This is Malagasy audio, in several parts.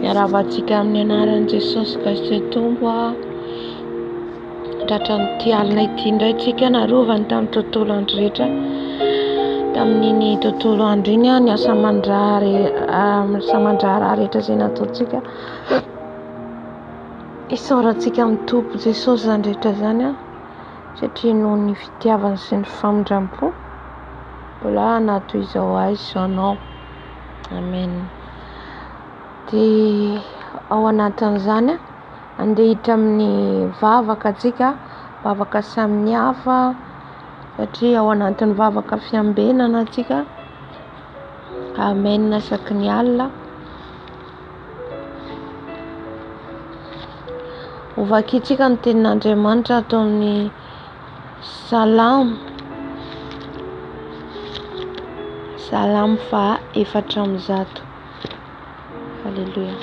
Miarahaba antsika amin'ny anaran'i Jesosy Kristy Tompo aho. Tratran'ity alina ity indray tsika narovany tamin'ny tontolo andro rehetra. Tamin'iny tontolo andro iny ny asa aman-draharaha rehetra izay nataontsika. Isaorantsika amin'ny Tompo Jesosy izany rehetra izany satria noho ny fitiavany sy ny famindram-po mbola hanatona izao azy izao anao. Amen. Dia ao anatin'izany andeha hiditra amin'ny vavaka antsika, vavaka samy hafa satria ao anatin'ny vavaka fiambenana antsika. Amen isaky ny alina. Hovakintsika ny tenin'Andriamanitra ato amin'ny Salamo Salamo faha efatra amby zato Alléluia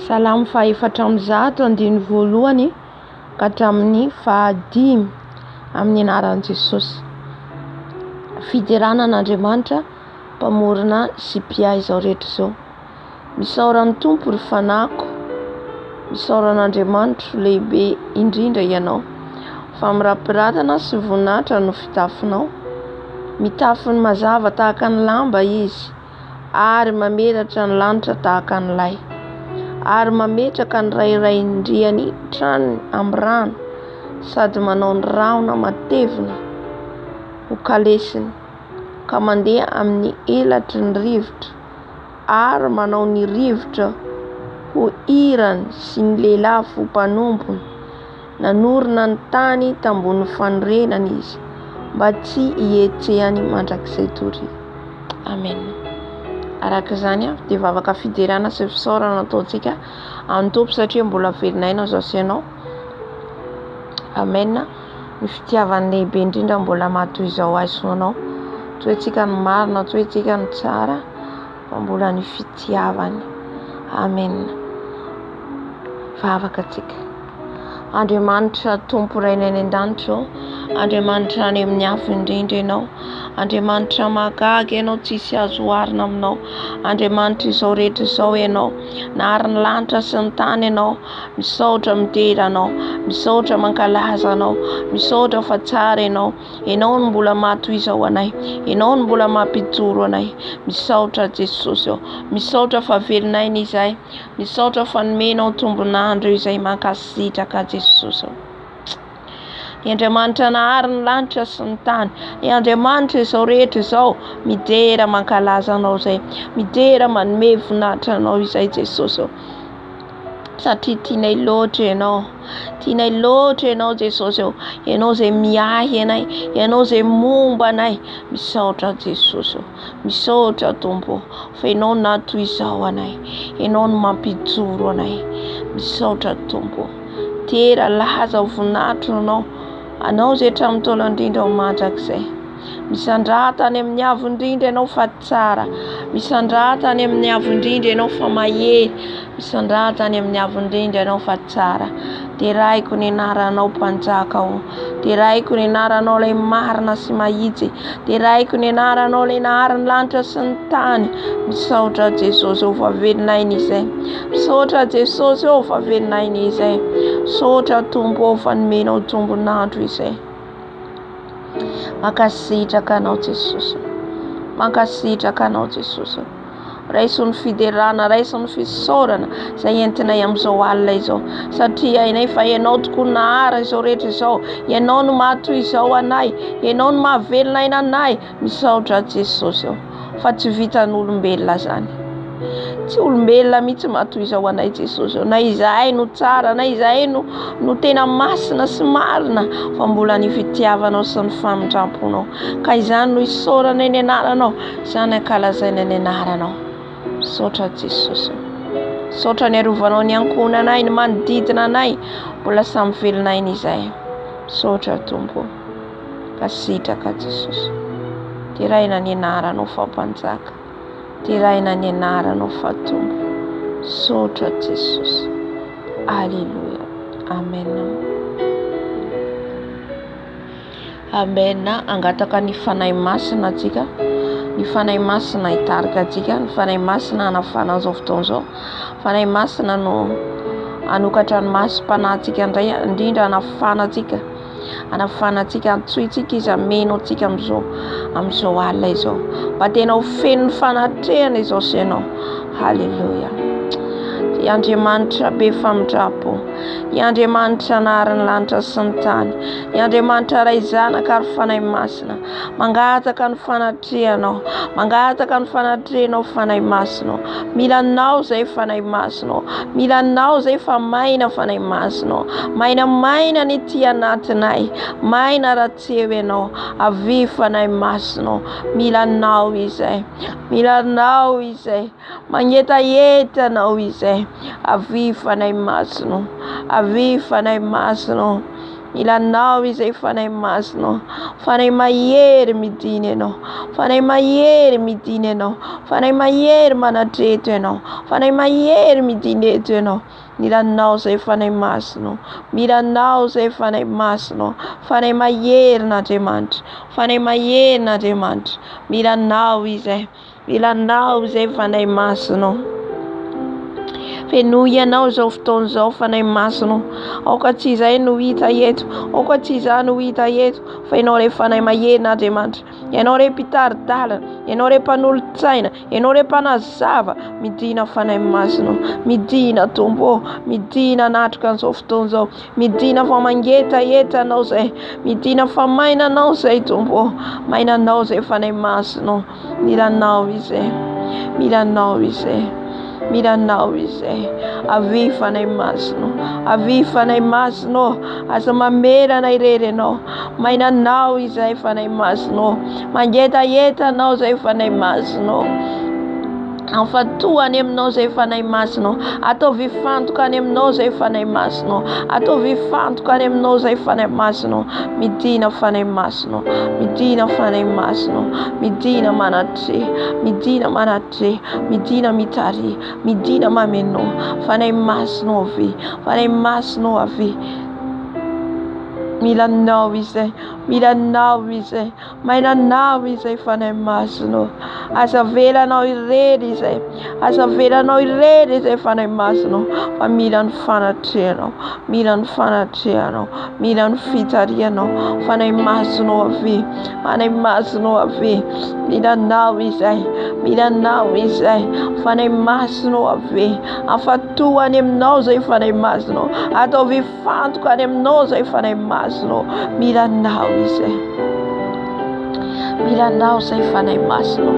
Salamo faha efatra amby zato andiny voalohany ka hatramin'ny fahadimy amin'ny anaran'i Jesosy fiderana an'Andriamanitra mpamorona sy mpiahy izao rehetra izao. Misaora ny Tompo ry fanahiko, misaora an'Andriamanitro lehibe indrindra ianao, fa mirapiratana sy voninahitra no fitafinao. Mitafy ny mazava tahaka ny lamba izy, ary mamelatra ny lanitra tahaka ny lay, ary mametraka ny rairain-driany trany amin'ny rano, sady manao ny rahona matevina ho kalesiny. ka mandeha amin'ny elatry ny rivotra ary manao ny rivotra ho hirany sy ny lehilahy fo mpanompony. Nanorina ny tany tambonin'ny fanorenana izy mba tsy hihetsehany mandrakizay toria. Amen. Araka izany avy dia vavaka fiderana sy fisaorana ataontsika amin'ny Tompo satria mbola velon'aina izao sy ianao. Amen. Ny fitiavany lehibe indrindra mbola matoy izao ahy soa anao Antsointsika ny marina, antsointsika ny tsara Fa mbola ny fitiavany Amen Vavaka atsika Andriamanitra Tompo Rainay any an-danitra ô Andriamanitra any amin'ny afo indrindra ianao Andriamanitra mahagaga ianao tsisy azo oharina aminao Andriamanitra izao rehetra izao ianao Nahary ny lanitra sy ny tany ianao Misaotra midera anao, misaotra mankalaza anao, misaotra fa tsara ianao, ianao no mbola mahatoizao anay, ianao no mbola mampijoro anay, misaotra Jesosy ô, misaotra fa velon'aina izay, misaotra fa nomenao tombon'andro izay, mankasitraka Jesosy ô. I Andriamanitra nahary ny lanitra sy ny tany. I Andriamanitra izao rehetra izao midera mankalaza anao izay. Midera manome voninahitra anao izay Jesosy ô. Satria tianay loatra ianao. Tianay loatra ianao Jesosy ô. Ianao izay miahy anay, ianao izay momba anay. Misaotra Jesosy ô. Misaotra Tompo ô. fa ianao na toy izao anay ianao no mampijoro anay misaotra tompo tera laza ho vonatro anao anao izay hatramin'ny taona indrindra ho mandrakizay misandrata any amin'ny avo indrindra ianao fa tsara misandrata any amin'ny avo indrindra ianao fa mahery Misandrahatra any amin'ny haavon'ny rindra ianao fa tsara. Deraiko ny anaranao mpanjaka o. Deraiko ny anaranao ilay marina sy mahitsy. Deraiko ny anaranao ilay nahary ny lanitra sy ny tany. Misaotra Jesosy ô fa velona aina izay. Misaotra Jesosy ô fa velona aina izay. Misaotra Tompo ô fa nomenao jombon'andro izay. Mankasitraka anao Jesosy. Mankasitraka anao Jesosy. Raisin'ny fiderana, raisin'ny fisaorana izay entinay amin'izao alina izao. Satria hainay fa Ianao tokoa nahara izao rehetra izao. Ianao no mahatoy izao anay. Ianao no mahavelona aina anay. Misaotra Jesosy ô. Fa tsy vitan'olombelona izany. Tsy olombelona mihitsy mahatoy izao anay Jesosy ô. Na izahay no tsara, na izahay no, no tena masina sy marina. Fa mbola ny fitiavanao sy ny famindramponao. Ka izany no isaoranay ny anaranao. Izany ankalazaina ny anaranao. Misaotra Jesosy. Misaotra ny arovanao ny ankohonanay, ny manodidina anay. Mbola samy velona aina izay. Misaotra Tompo. Kasitraka Jesosy. Deraina ny anaranao fa mpanjaka. Deraina ny anaranao fa Tompo. Misaotra Jesosy. Alléluia. Amen. Amen angataka ny Fanahy Masina atsika ny Fanahy Masina hitarika atsika ny Fanahy Masina hanafana an'izao fotoana izao Fanahy Masina no hanokatra ny masom-panahy antsika indray indrindra hanafana atsika hanafana atsika antsointsika izy hameno atsika amin'izao amin'izao alina izao mba tena ho feno ny fanatrehana izao sy ianao haleloia i Andriamanitra be famindrampo i Andriamanitra anaharin'ny lanitra sy ny tany Ny Andriamanitra Ray, Zanaka ary Fanahy Masina. Mangataka ny fanatrehanao. Mangataka ny fanatrehanao Fanahy Masina. Mila anao zay Fanahy Masina. Mila anao zay fa maina Fanahy Masina. Maina maina ny tia anatinay. Maina raha tsy eo ianao. Avy Fanahy Masina. Mila anao izay. Mila anao izay. Mangetaheta Anao izay. Avia Fanahy Masina ô. Avia Fanahy Masina ô. Mila Anao izay Fanahy Masina ô. Fanahy mahery midina Ianao. Fanahy mahery midina Ianao. Fanahy mahery manatreto Ianao. Fanahy mahery midina eto Ianao. Mila Anao izay Fanahy Masina ô. Mila Anao izay Fanahy Masina ô. Fanahy mahery n'Andriamanitra. Fanahy mahery n'Andriamanitra. Mila Anao izay. Ilanao izay Fanahy Masina Fenoy ianao izao fotoana izao Fanahy Masina Aoka tsy izay no hita eto Aoka tsy izany no hita eto Fa ianao re Fanahy Mahena Andriamanitra Ianao re mpitari-dalana Ianao re mpanolotsaina Ianao re mpanazava Midina Fanahy Masina Midina Tompo ô Midina anatroka an'izao fotoana izao Midina fa mangetaheta anao izay Midina fa maina anao izay Tompo ô Maina anao izay Fanahy Masina Mila anao izay Mila anao izay Mila anao izay Avy fanahy masina Avy fanahy masina ô Aza mamerana irery ianao Maina anao izay fanahy masina ô Mangetaheta anao izay fanahy masina ô Afantoha any aminao izay fanahy masinao. Ataovy hifantoka any aminao izay fanahy masinao. Ataovy hifantoka any aminao izay fanahy masinao. Midina fanahy masinao. Midina fanahy masinao. Midina manatre. Midina manatre. Midina mitare. Midina mameno. Fanahy masinao avy. Fanahy masinao avy. Mila nao izay. Mila nao izay. Mainanao izay fanahy masina ô. Aza avela anao irery izay. Aza avela anao irery izay fanahy masina ô. Fa mila ny fanatrehanao. Mila ny fanatrehanao. Mila ny fitarihanao. Fanahy masina ô avia. Fanahy masina ô avia. Mila anao izay. Mila anao izay. Fanahy masina ô avia. Afatoa any aminao izay fanahy masina ô. Ataovy Vantoka any aminao izay fanahy masinao. Mila anao izay. Mila anao izay fanahy masinao.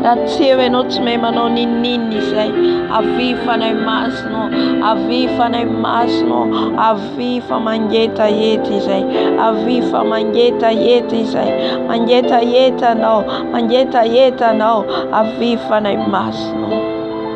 Raha tsy eo ianao tsy mahay manao ninninina izay. Avy fanahy masinao. Avy fanahy masinao. Avy fa mangeta hety izay. Avy fa mangeta hety izay. Mangeta hety anao. Mangeta hety anao. Avy fanahy masinao.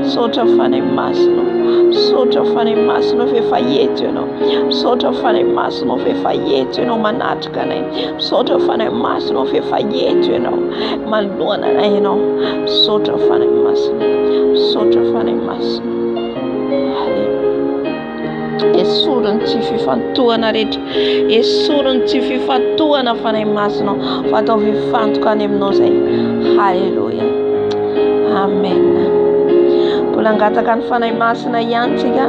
Misaotra Fanahy Masina ô, misaotra Fanahy Masina ô f'efa eto Ianao. Misaotra Fanahy Masina ô f'efa eto Ianao manatrika anay. Misaotra Fanahy Masina ô f'efa eto Ianao manoloana anay Ianao. Misaotra Fanahy Masina, misaotra Fanahy Masina. Alléluia. Esory ny tsy fifantohana rehetra. Esory ny tsy fifantohana Fanahy Masina. Fa ataovy hifantoka any aminao izay. Haleloia. Amen. Mbola angataka ny Fanahy Masina ihany tsika.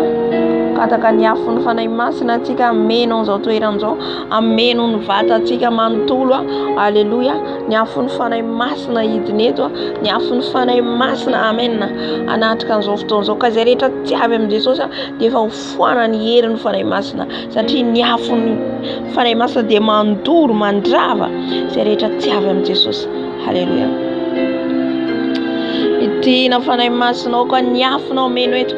Angataka ny afo ny Fanahy Masina tsika. Ameno an'izao toerana izao. Ameno ny vatantsika manontolo. Haleloia. Ny afon'ny Fanahy Masina hidina eto, ny afon'ny Fanahy Masina, Amen, hanatrika an'izao fotoana izao. Ka izay rehetra tsy avy amin'i Jesosy dia efa hofoanan'ny herin'ny Fanahy Masina, satria ny afon'ny Fanahy Masina dia mandoro, mandrava izay rehetra tsy avy amin'i Jesosy. Haleloia. Hidina Fanahy Masina, aoka ny afonao meno eto.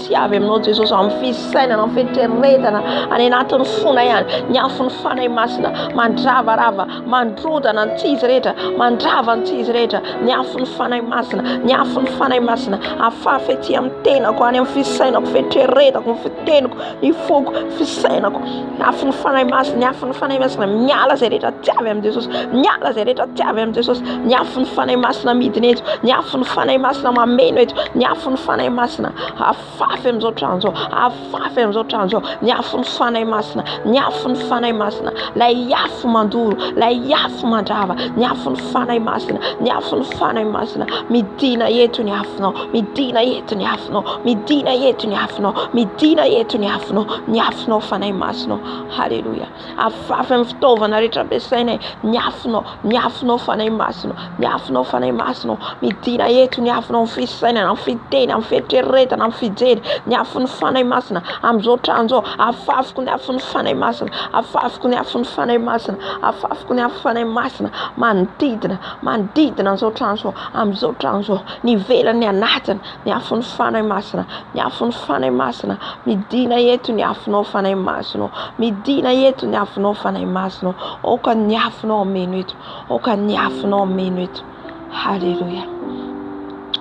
Tsy avy aminao Jesosy amin'ny fisainana amin'ny fieritreretana any anatin'ny fona ihany ny afon'ny Fanahy Masina mandravarava mandrodana ny tsy izy rehetra mandrava ny tsy izy rehetra ny afon'ny Fanahy Masina ny afon'ny Fanahy Masina afafy ety amin'ny tenako any amin'ny fisainako fieritreretako ny fiteniko ny foko fisainako Ny afon'ny Fanahy Masina, ny afon'ny Fanahy Masina, miala izay rehetra tsy avy amin'i Jesosy, miala izay rehetra tsy avy amin'i Jesosy, ny afon'ny Fanahy Masina midina eto, ny afon'ny Fanahy Masina mameno eto, ny afon'ny Fanahy Masina afafy amin'izao trano izao, afafy amin'izao trano izao, ny afon'ny Fanahy Masina, ny afon'ny Fanahy Masina, lay afo mandoro, lay afo mandrava, ny afon'ny Fanahy Masina, ny afon'ny Fanahy Masina, midina eto ny afonao. Midina eto ny afonao, midina eto ny afonao, midina eto ny afonao, ny afonao fanahy masina. Haleloia. Afafy amin'ny fitaovana rehetra ampiasainay, ny afonao, ny afonao fanahy masina, ny afonao fanahy masina. Midina eto ny afonao amin'ny fisainana, amin'ny fiteny, amin'ny fieritreretana, amin'ny fijery, ny afon'ny fanahy masina. Amin'izao trano izao, afafiko ny afon'ny fanahy masina, afafiko ny afon'ny fanahy masina, afafiko ny afon'ny fanahy masina manodidina, manodidina an'izao trano izao, amin'izao trano izao. Ny ivelany ny anatiny, ny afon'ny Fanahy Masina, ny afon'ny Fanahy Masina, midina eto ny afonao Fanahy Masina, midina eto ny afonao Fanahy Masina, aoka ny afonao ameno eto, aoka ny afonao ameno eto, haleloia,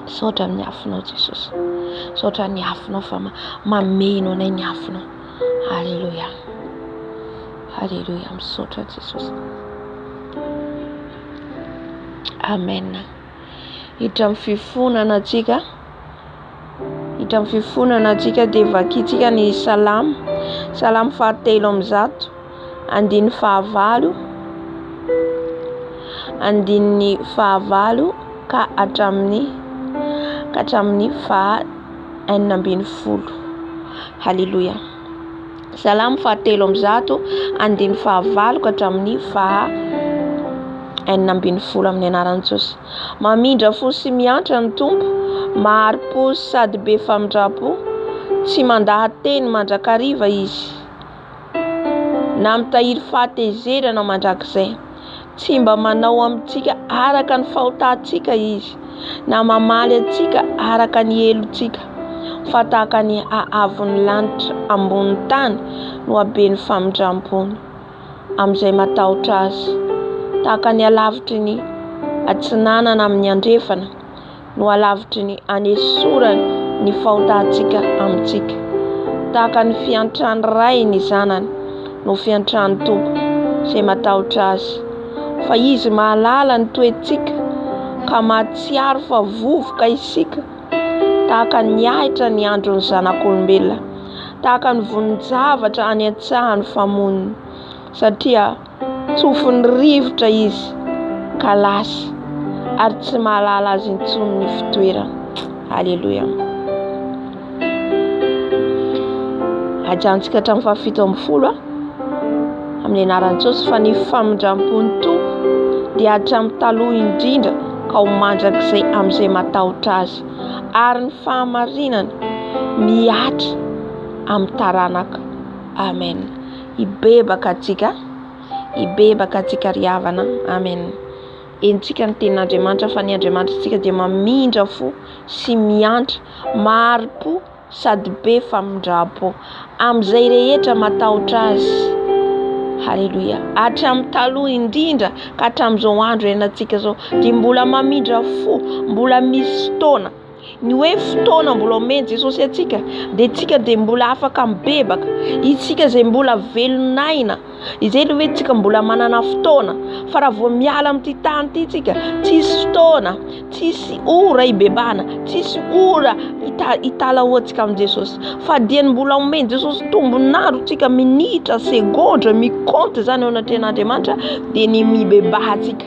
saotra ny afonao Jesosy, saotra ny afonao fa mameno anay ny afonao, haleloia, haleloia, misaotra Jesosy, amen. hiditra amin'ny fifonana antsika hiditra amin'ny fifonana antsika dia vakintsika ny salamo salamo fahatelo amin'ny zato andininy fahavalo andininy fahavalo ka hatramin'ny ka hatramin'ny faha enina ambin'ny folo haleloia Salamo fahatelo amby zato andiny fahavalo ka hatramin'ny faha enina ambin'ny folo amin'ny anaran'i Jesosy. Mamindra fo sy miantra ny Tompo, mahari-po sady be famindram-po, tsy mandaha-teny mandrakariva izy, na mitahiry fahatezerana mandrakizay. Tsy mba manao amintsika araka ny fahotantsika Izy, na mamaly antsika araka ny helotsika, fa tahaka ny haavon'ny lanitra ambonin'ny tany no haben'ny famindram-pony amin'izay matahotra Azy, tahaka ny halavitry ny atsinanana amin'ny andrefana, no halavitry ny hanesorany ny fahotantsika amintsika. Tahaka ny fiantran'ny ray ny zanany no fiantran'ny Tompo izay matahotra azy. Fa izy mahalala ny toetsika ka mahatsiaro fa vovoka isika tahaka ny ahitra ny andron'ny zanak'olombelona, tahaka ny vonin-javatra any an-tsahan'ny famoniny. Satria Tsofin'ny rivotra izy ka lasa ary tsy mahalala azy intsony ny fitoerany. Aleloia. Ajantsika hatramin'ny fahafito ambin'ny folo amin'ny anaran'i Jesosy fa ny famindram-pon'ny Tompo dia hatramin'ny taloha indrindra ka ho mandrakizay amin'izay matahotra azy ary ny fahamarinany mihatra amin'ny taranaka. Amen. Hibebaka antsika, hibebaka antsika ry havana a! Amen! Henontsika ny tenin'Andriamanitra fa ny Andriamanitritsika dia mamindra fo sy miantra, mahari-po sady be famindram-po amin'izay rehetra matahotra Azy. Haleloia! Hatramin'ny taloha indrindra ka hatramin'izao andro iainantsika izao dia mbola mamindra fo, mbola misy fotoana. Ny hoe fotoana mbola omen'i Jesosy antsika dia tsika dia mbola afaka mibebaka, isika izay mbola velon'aina, izay ilay hoe tsika mbola manana fotoana, fa raha vao miala amin'ity tany ity tsika, tsisy fotoana, tsisy ora hibebahana, tsisy ora hitalahoantsika amin'i Jesosy, fa dia ny mbola omen'i Jesosy tombon'andro tsika, minitra, segondra, mi-compte izany eo anatrehan'Andriamanitra dia ny mibebahantsika.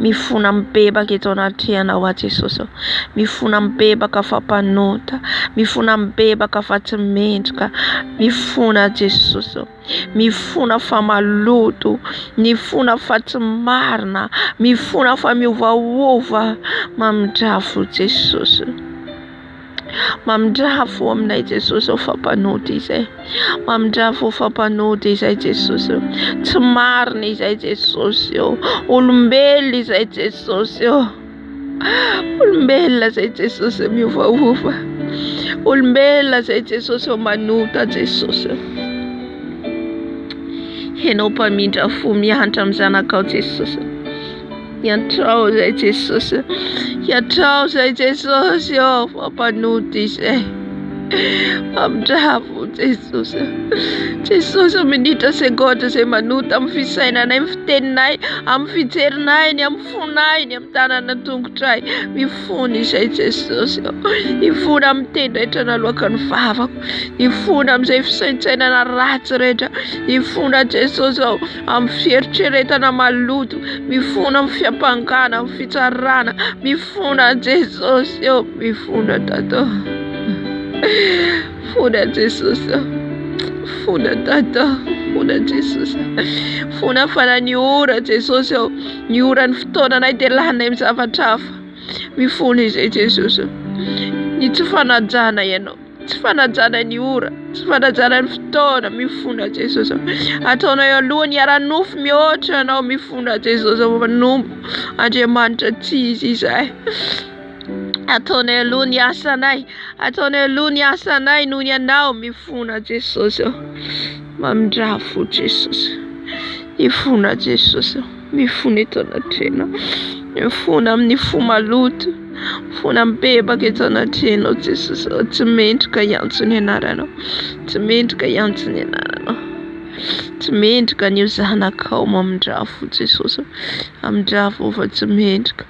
Mifona mibebaka eto anatrehanao aho Jesosy ô. Mifona mibebaka fa mpanota, mifona mibebaka fa tsy mendrika, mifona Jesosy ô. Mifona fa maloto, mifona fa tsy marina, mifona fa miovaova, mamindrafo Jesosy. Mamindrafo aminay Jesosy ô fa mpanody izay Mamindrafo fa mpanody izay Jesosy ô Tsy marina izay Jesosy ô Olombelona izay Jesosy ô Olombelona izay Jesosy miovaova Olombelona izay Jesosy ô manota Jesosy ô Ianao mpamindrafo mihantra amin'ny zanakao Jesosy ô Hiantrao izay Jesosy a! Hiantrao izay Jesosy ô! Fampanota izay. Famindravo Jesosy a! Jesosy ô! Minitra segondra izay manota amin'ny fisainanay, amin'ny fiteninay, amin'ny fijerinay, ny amin'ny fonay, ny amin'ny tanana an-tongotray. Mifona izay Jesosy ô! Hifona amin'ny teny rehetra naloaka ny vavako. Hifona amin'izay fisaintsainana ratsy rehetra. Hifona Jesosy ô! amin'ny fieritreretana maloto, mifono amin'ny fiampangana, amin'ny fitsarana, mifono an'i Jesosy eo, mifono Tata. Mifono an'i Jesosy eo. Mifono Tata, mifono an'i Jesosy. Mifono afana ny ora Jesosy eo. Ny ora ny fotoananay dia laninay amin'ny zavatra hafa. Mifono izay Jesosy eo. Ny tsy fanajana ianao. Tsy fanajana ny ora, tsy fanajana ny fotoana, mifona Jesosy ô. Ataonao eo aloha ny ara-nofo mihoatra anao, mifona Jesosy ô manompo Andriamanitra tsy izy izay. Ataonay aloha ny asanay, ataonay aloha ny asanay noho ny anao, mifona Jesosy ô. Mamindrafo Jesosy, mifona Jesosy ô. Mifona eto anatrehanao, mifona amin'ny fo maloto, mifona mibebaka eto anatrehanao Jesosy ô, tsy mendrika hiantso ny anaranao, tsy mendrika hiantso ny anaranao, tsy mendrika ny ho zanakao mamindrà fo Jesosy ô, mamindrà fo fa tsy mendrika,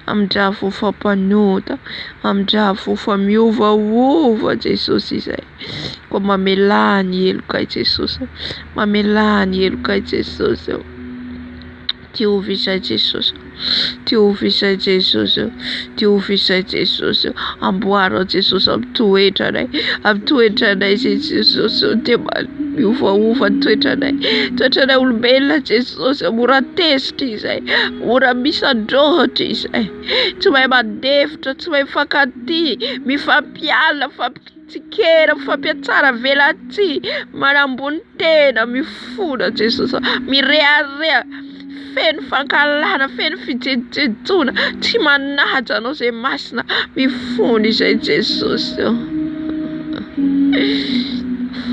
mamindrà fo fa mpanota, mamindrà fo fa miovaova Jesosy izay. Koa mamelà ny heloka i Jesosy ô, mamelà ny heloka i Jesosy ô, diovy izay Jesosy ô, diovy izay Jesosy ô, diovy izay Jesosy ô, amboary aho Jesosy amy toetranay, amy toetranay izay Jesosy ô, dia mba miovaova ny toetranay, toetranay olombelona Jesosy ô, mora tezitra izay, mora misan-drôhitra izay, tsy mahay mandefitra, tsy mahay mifankatia, mifampiala, mifampik-. Tsikera mifampiatsara velatsihy manambony tena mifona Jesosy a mirehareha feno fankahalana feno fijejojejoana tsy manaja anao zay masina mifona izay Jesosy ô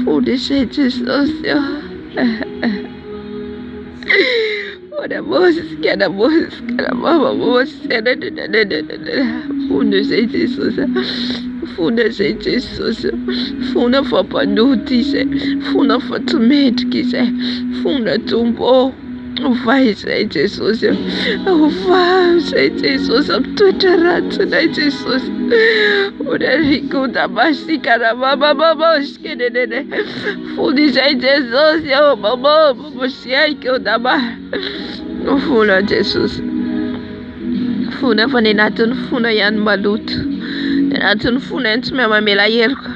mifona izay Jesosy ô. Hoana Môzy sy Kiana Môzy sy Kiana Mama Môzy Fona izay Jesosy a Fona izay Jesosy Fona fa mpanota izay Fona fa tsy mendrika izay Fona Tompo ô Ovay izay Jesosy a Ovay izay Jesosy amin'ny toetra ratsinay Jesosy Hoana Rikota Masika Ramama Môzy Fony izay Jesosy ô mamô mamosiaiko dama no fona Jesosy fona fa ny anatin'ny fona ihany maloto ny anatin'ny fona ihany tsy mahay mamela heloka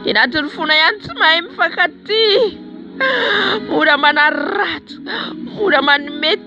ny anatin'ny fona ihany tsy mahay mifankatia mora manaratsy mora manome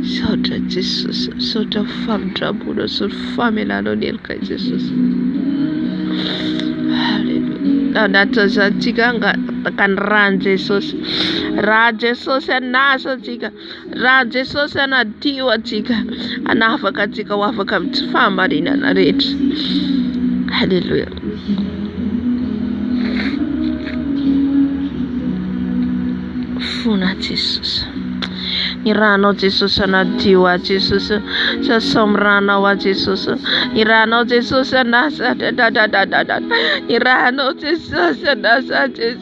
Misaotra Jesosy, misaotra ny famindramponao sy ny famelanao ny heloka Jesosy. Haleloia. Anatin'izany tsika angataky ny ràn'i Jesosy. Ràn'i Jesosy anasa antsika. Raha Jesosy hanadio antsika, hanafaka antsika ho afaka amin'ny tsy fahamarinana rehetra. Alléluia. Fona Jesosy. Ny ranao Jesosy hanadio ahy Jesosy. Sasao amin'ny ranao ahy Jesosy. Ny ranao Jesosy anasa. Ny ranao Jesosy anasa Jesosy.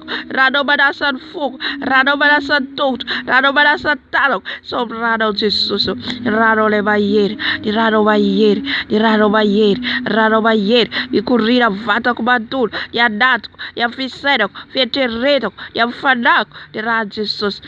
Ra anao manasa ny foko Ra anao manasa ny tongotro Ra anao manasa ny tanako Sao ny ra anao Jesosy ô Ny ra anao ilay mahery Ny ra anao mahery Ny ra anao mahery Ny ra anao mahery Mikoriana ny vatako manontolo Ny anatiko Ny amin'ny fisainako Fieritreretako Ny amin'ny fanahiko Ny ran'i Jesosy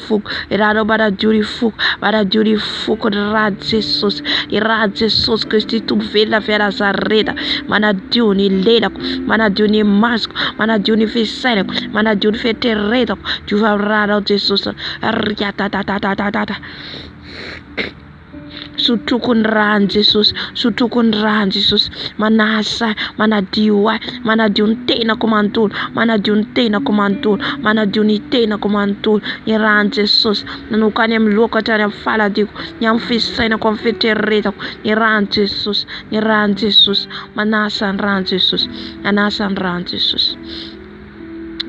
foko i ra anao manadio ny foko manadio ny foko ny rany jesosy ny rany jesosy kristy tompo velona avy anazareta manadio ny lelako manadio ny masoko manadio ny fisainako manadio ny fetreretako diova ny ranao jesosy riatatatatata Sotroiko ny ran'i Jesosy, sotroiko ny ran'i Jesosy, manasa ahy, manadio ahy, manadio ny tenako manontolo, manadio ny tenako manontolo, manadio ny tenako manontolo, ny ran'i Jesosy, nanoka any amin'ny lohako hatrany amin'ny faladiako, ny amin'ny fisainako, amin'ny fieritreretako, ny ran'i Jesosy, ny ran'i Jesosy, manasa ny ran'i Jesosy, manasa ny ran'i Jesosy.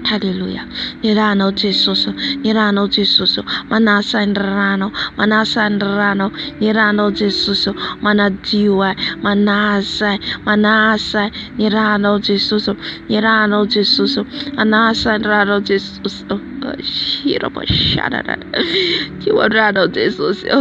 Haleloia ny ranao Jesosy ô ny ranao Jesosy ô manasa ny ranao manasa ny ranao ny ranao Jesosy ô manadio ahy manasa ahy manasa ahy ny ranao Jesosy ô ny ranao Jesosy ô manasa ny ranao Jesosy ô shira mashana rara io ny ranao Jesosy ô.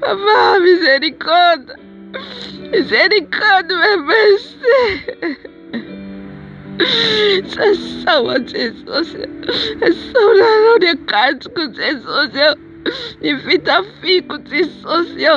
Papa miséricorde Miséricorde mercy Sasao aho Jesosy Sasao lalao ny akanjoko Jesosy ô Ny fitafiako Jesosy ô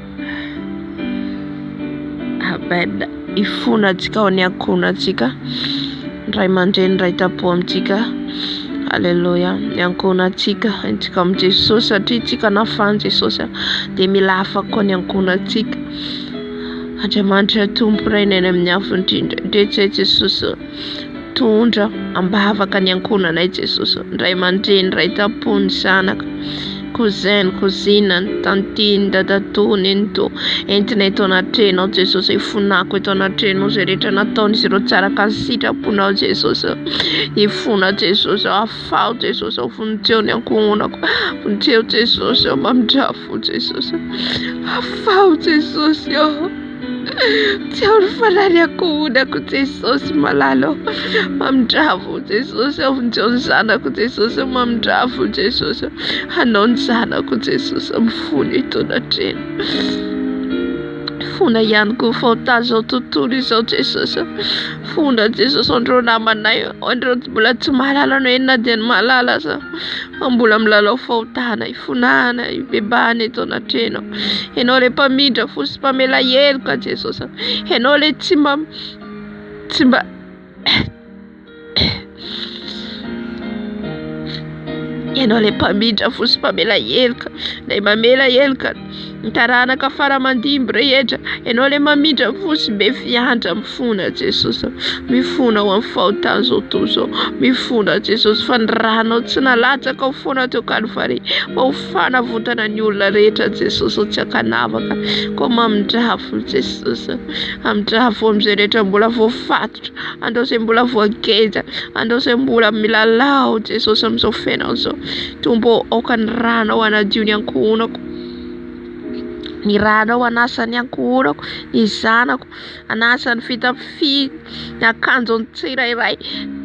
Amen hifona antsika ao ny ankohona antsika ray aman-dreny ray tampo amintsika aleloia ny ankohona antsika antsika amin'i Jesosy satria antsika nafahan'i Jesosy dia mila afaka ny ankohona antsika Andriamanitra Tompo Ray ny any amin'ny avo indrindra ndretsy Jesosy Tondra am-bavaka ny ankohonanay Jesosy ô, ny ray aman-dreny, ny ray tam-po, ny zanaka, cousin, ny cousine, ny tantine, ny dadatoa, nenitoa, entinay eto anatrehanao Jesosy ô, ifonako eto anatrehanao zay rehetra nataon'izy ireo tsy araka ny sitraponao Jesosy ô, ifona Jesosy ô, afaho Jesosy ô, vonjeo ny ankohonako, vonjeo Jesosy ô, mamindrafo Jesosy ô, afaho Jesosy ô. Tsiaro farany ankohonako Jesosy malala ô Mamindrafo ô Jesosy ô Vonjeo ny zanako Jesosy ô Mamindrafo ô Jesosy ô Hanao ny zanako Jesosy ô Mifono etoana hatreny Fona ihany koa fao tazao tontolo izao Jesosy ô Fona Jesosy ô An'ireo namanay ô An'ireo mbola tsy mahalala anao Enona dia ny mahalala aza Fa mbola milalao fahotana hifonahana hibebahana eto anatrehanao Ianao ilay mpamindra fo sy mpamela heloka Jesosy a Ianao ilay tsy mba tsy mba Ianao ilay mpamindra fo sy mpamela heloka Ilay mamela heloka Ny taranaka fara mandimby rehetra Ianao ilay mamindra ny fo sy be fiantra Mifona Jesosy a Mifona ho amin'ny fahotan'izao tontolo izao Mifona Jesosy fa ny ranao tsy nalatsakao foana teo Kalvary Fa ho fanavotana ny olona rehetra Jesosy o Tsy ankanavaka Koa mamindrà fo Jesosy a Hamindrà fo amin'izay rehetra mbola voafatotra An'ireo izay mbola voageja An'ireo izay mbola milalao Jesosy amin'izao fiainana izao Tompo ô, aoka ny ranao hanadio ny ankohonako, ny ranao hanasa ny ankohonako, ny zanako hanasa ny fitafiany, ny akanjony tsirairay.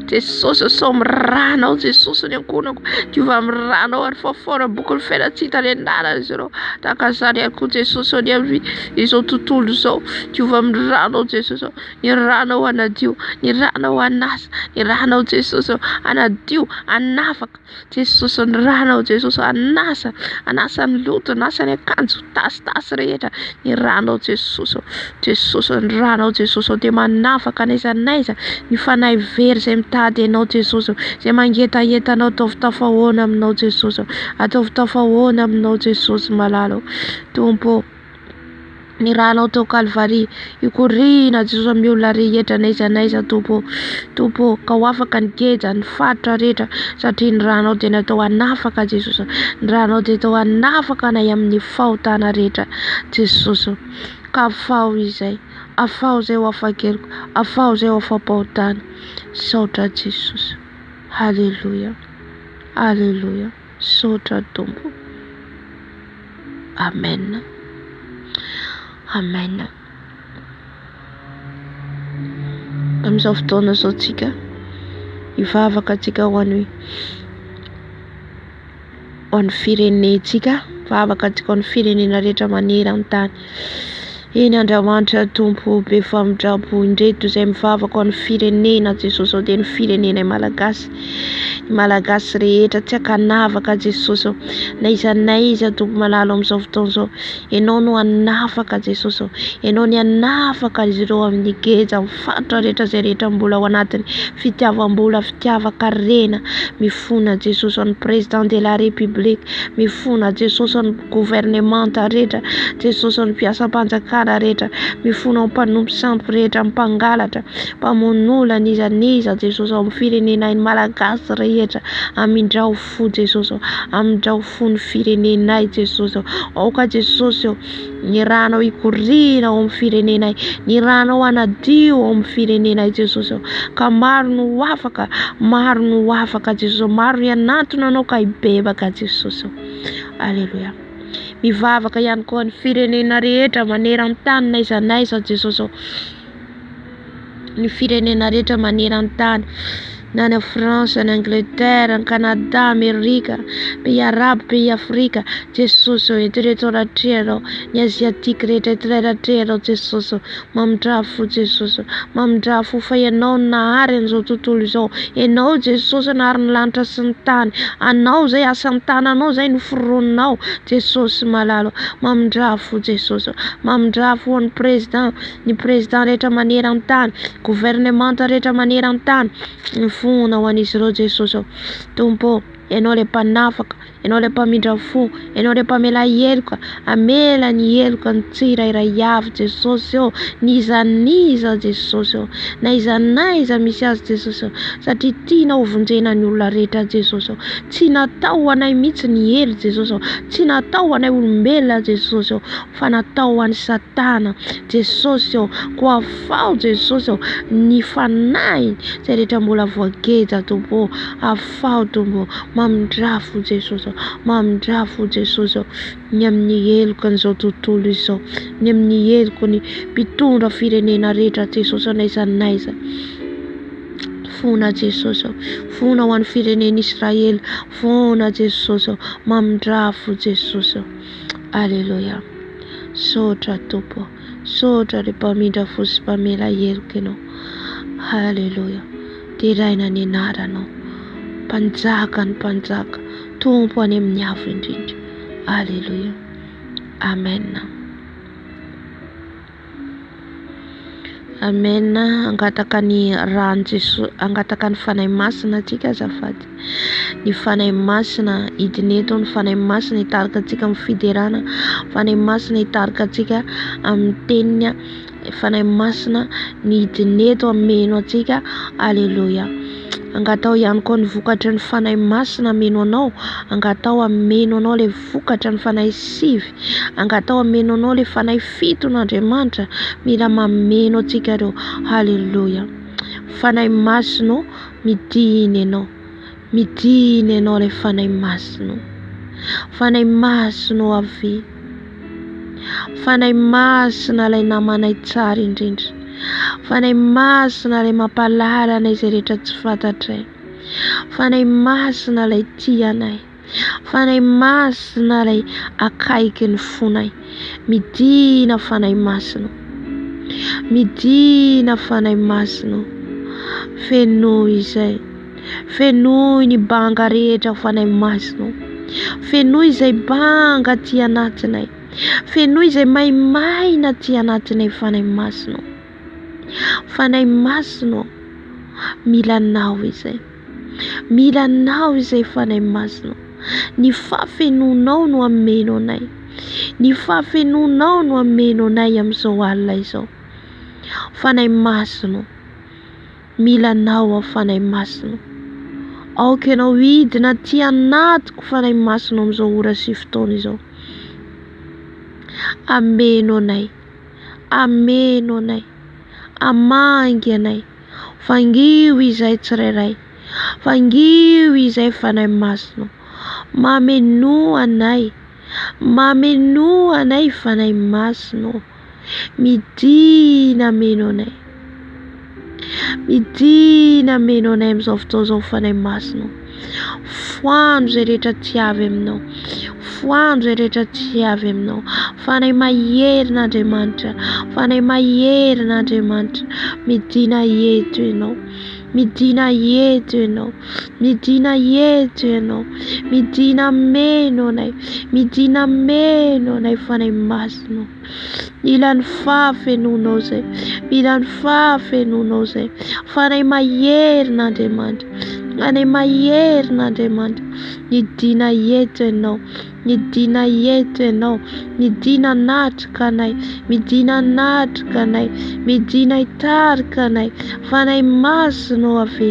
Jesosy ô, sao amin'ny ranao Jesosy ny ankohonako, diovy amin'ny ranao ary faofaona amin'ny bokin'ny fiainana tsy hita renirano izy ireo. Tahaka izany ihany koa Jesosy ô, ny amin'izao tontolo izao, diovy amin'ny ranao Jesosy ô, ny ranao hanadio, ny ranao hanasa, ny ranao Jesosy ô, hanadio, hanafaka. Jesosy ny rana ao Jesosy anasa anasa ny loto anasa ny akanjo tasitasy rehetra ny rano ao Jesosy ao Jesosy ny rano ao Jesosy ao dia manafaka n'aiza n'aiza ny fanahy very izay mitady anao Jesosy ao izay mangetaheta anao ataovy tafahoana aminao Jesosy ao ataovy tafahoana aminao Jesosy malala ao Tompo Ny rano ao tao Kalvary, Ikoriana Jesoa amin'ny olona rehetra n'aiza n'aiza Tompo ô, Tompo ô, ka ho afaka ny geja, ny faritra rehetra, satria ny ranao dia natao hanafaka Jesosy ô, ny ranao dia atao hanafaka anay amin'ny fahotana rehetra Jesosy ô, ka afaho izay, afaho izay ho afa-keloka, afaho izay ho afa-pahotana, misaotra Jesosy, Aleloia, Aleloia. Misaotra Tompo Amen Amen Amin'izao fotoana izao tsika Hivavaka tsika ho an'ny Ho an'ny firenentsika Hivavaka tsika ho an'ny firenena rehetra maneran-tany Eny Andramanitra Tompo be famindrampo indreto izay mivavaka ho an'ny firenena Jesosy izao dia ny firenenay Malagasy ny Malagasy rehetra tsy ankanavaka Jesosy ô na iza na iza Tompo malalo amin'izao fotoana izao Ianao no hanafaka Jesosy ô Ianao ny hanafaka azy ireo amin'ny geja Fantatra rehetra izay rehetra mbola ao anatin'ny fitiavam-bola, fitiavan-karena, mifona Jesosy an'ny Président de la République, mifona Jesosy an'ny gouvernemanta rehetra, Jesosy an'ny mpiasam-panjakana rehetra, mifona amin'ny mpanompo sampy rehetra, amin'ny mpangalatra, mpamono olona, n'iza n'iza, Jesosy ao amin'ny firenenay ny Malagasy rehetra, Amindrao fo. fo Jesosy ô, amindrao fo ny firenenay Jesosy ô, aoka Jesosy ô, ny ranao hikoriana ao amin'ny firenenay, ny ranao hanadio ao amin'ny firenenay Jesosy ô, ka maro no ho afaka, maro no ho afaka Jesosy ô, maro hianantona anao ka hibebaka Jesosy ô, aleloia. Mivavaka ihany koa ny firenena rehetra maneran-tany n'aiza n'aiza Jesosy ô, ny firenena rehetra maneran-tany na any France any Angleterre any Canada Amerika pays arabo pays afrika Jesosy ô eto ireto aho ratrehanao ny asiatique rehetra eto ireto ratrehanao Jesosy ô mamindrà fo Jesosy ô mamindrà fo fa ianao no nahary an'izao tontolo izao ianao Jesosy nahary ny lanitra sy ny tany anao izay asan'ny tananao izay no foroninao Jesosy malala ô mamindrà fo Jesosy ô mamindrà fo an'ny président ny Président rehetra maneran-tany, gouvernemanta rehetra maneran-tany, mifohona ho an'izy ireo Jesosy ô. Tompo ô, Ianao ilay Mpanafaka, Ianao ilay Mpamindra fo, Ianao ilay Mpamela heloka, hamela ny heloka ny tsirairay avy Jesosy ô, n'iza n'iza Jesosy ô, na iza n'iza misy azy Jesosy ô, satria tianao hovonjena ny olona rehetra Jesosy ô, tsy natao ho anay mihitsy ny helo Jesosy ô, tsy natao ho anay olombelona Jesosy ô. fa natao ho an'i satana Jesosy ô ko afaho Jesosy ô ny fanahiny izay rehetra mbola voageja Tompo ô afaho Tompo ô mamindrà fo Jesosy ô mamindrà fo Jesosy ô ny amin'ny heloka an'izao tontolo izao ny amin'ny heloka ny mpitondra firenena rehetra Jesosy ô n'aiza n'aiza fona Jesosy ô fona ho an'ny firenen'Israely fona Jesosy ô mamindrà fo Jesosy ô Aleloia Sotra Tompo Sotra ry mpamindra fo sy mpamela heloka ianao Aleloia Deraina ny anaranao Mpanjaka ny mpanjaka Tompo any amin'ny avo indrindra Aleloia Amen Amen hangataka ny rany Jesosy hangataka ny Fanahy Masina antsika azafady ny Fanahy Masina hidina eto ny Fanahy Masina hitarika antsika amin'ny fiderana Fanahy Masina hitarika antsika amin'ny teniny Fanahy Masina ny hidina eto hameno antsika aleloia angataho ihany koa ny vokatry ny Fanahy Masina hameno anao angataho hameno anao le vokatra ny fanahy sivy angatao hameno anao le fanahy fito no Andriamanitra mila mameno antsika reo haleloia fanahy masino midina ianao midina ianao le fanahy masino fanahy masino avy fanahy masina ilay namanay tsara indrindra fanahy masina ilay mampalalana izay rehetra tsy fantatray fanahy masina ilay tianay Fanahy Masina ilay akaiky ny fonay. Midina Fanahy Masina. Midina Fanahy Masina. Fenoy izay. Fenoy ny banga rehetra Fanahy Masina. Fenoy izay banga aty anatinay. Fenoy izay maimaina aty anatinay Fanahy Masina. Fanahy Masina. Mila anao izay. Mila anao izay Fanahy Masina. Ny fahafenoanao no hameno anay. Ny fahafenoanao no hameno anay amin'izao alina izao. Fanahy Masina, mila anao aho Fanahy Masina. Aoka ianao hidina aty anatiko Fanahy Masina amin'izao ora sy fotoana izao. Ameno anay. Ameno anay. Amangy anay. Vangio izay tsirairay. Vangio izay Fanahy Masina. Mamenoa anay. Mamenoa anay Fanahy Masina. Midina meno anay. Midina meno anay amin'izao fotoana izao Fanahy Masina. Foano izay rehetra tsy avy aminao. Foano izay rehetra tsy avy aminao. Fanahy maherin'Andriamanitra, Fanahy maherin'Andriamanitra, midìna eto ianao, midìna eto ianao, midìna eto ianao, midìna meno anay, midìna meno anay Fanahy Masina. Mila ny fahafenoanao izay. Mila ny fahafenoanao izay. Fa anay maherina Andriamanitra. Anay maherina Andriamanitra. Nidina eto ianao. Nidina eto ianao. Midina natrika anay. Midina natrika anay. Midina hitarika anay. Fanahy Masina o Ave.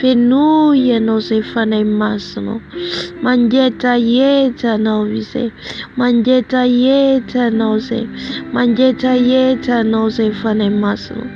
Fenoy ianao izay fanahy masinao Mangeja eja anao izay Mangeja eja anao izay Mangeja eja anao izay fanahy masinao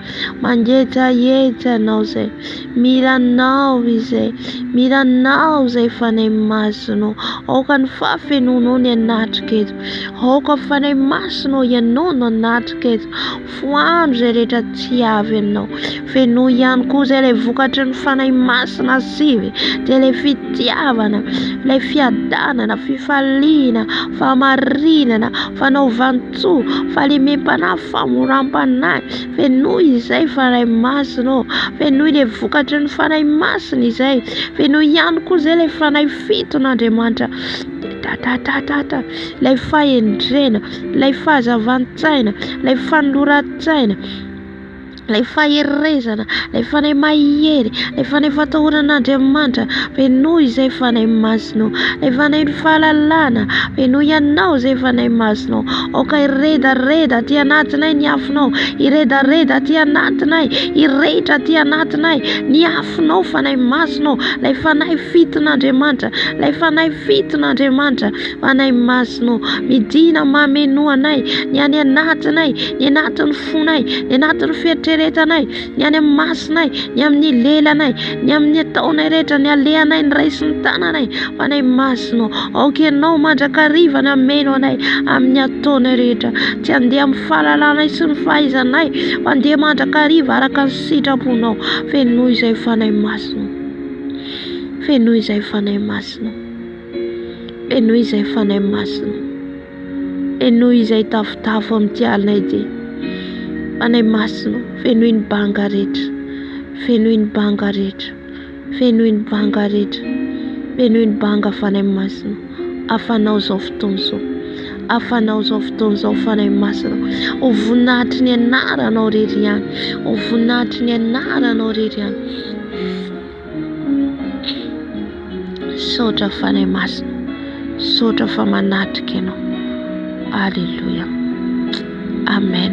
Mangeja eja anao izay Mila anao izay Mila anao izay fanahy masinao Aoka ny fahafenoanao ny anatriko eto Aoka fanahy masinao ianao no anatriko eto Foano izay rehetra tsy avy aminao. Fenoy ihany koa izay ilay vokatry ny Fanahy Masina sy dia ilay fitiavana, ilay fiadanana, fifaliana, fahamarinana, fanaovan-tsoa, fahalemem-panahy, famoram-panahy. Fenoy izay Fanahy Masina ô. Fenoy ilay vokatry ny Fanahy Masina izay. Fenoy ihany koa izay ilay Fanahy fiton'Andriamanitra. Tatatata ilay fahendrena. ilay fahazavan-tsaina, ilay fanoloran-tsaina, ilay faherezana, ilay Fanahy Mahery, ilay Fanahy Fatahoran'Andriamanitra, fenoy izay Fanahy Masinao, ilay Fanahy Fahalalana, fenoy anao izay Fanahy Masinao, aoka hiredareda aty anatinay ny afonao, hiredareda aty anatinay, hirehitra aty anatinay ny afonao Fanahy Masinao, ilay Fanahy fiton'Andriamanitra, ilay Fanahy fiton'Andriamanitra, Fanahy Masina ô, midina mamenoa anay, ny any anatinay, ny anatin'ny fonay, ny anatin'ny fieritreretanay, ny any amin'ny masinay, ny amin'ny lelanay, ny amin'ny ataonay rehetra, ny alehanay, ny ray sy ny tananay. Fanahy Masina ô, aoka ianao mandrakariva nameno anay amin'ny ataonay rehetra. Tsy handeha amin'ny fahalalanay sy ny fahaizanay, fa handeha mandrakariva araka ny sitraponao. Fenoy izay Fanahy Masina. Fenoy izay Fanahy Masina. Henoy izay Fanahy Masina. Henoy izay tafotafo amin'ity alina ity. Fanahy Masina, fenoy ny banga rehetra. Fenoy ny banga rehetra. Fenoy ny banga rehetra. Fenoy ny banga Fanahy Masina. Afanao izao fotoana izao. Afanao izao fotoana izao Fanahy Masina. Ho voninahitry ny anaranao irery ihany. Ho voninahitry ny anaranao irery ihany. Misaotra Fanahy Masina, misaotra fa manatrika Ianao. Alléluia. Amen.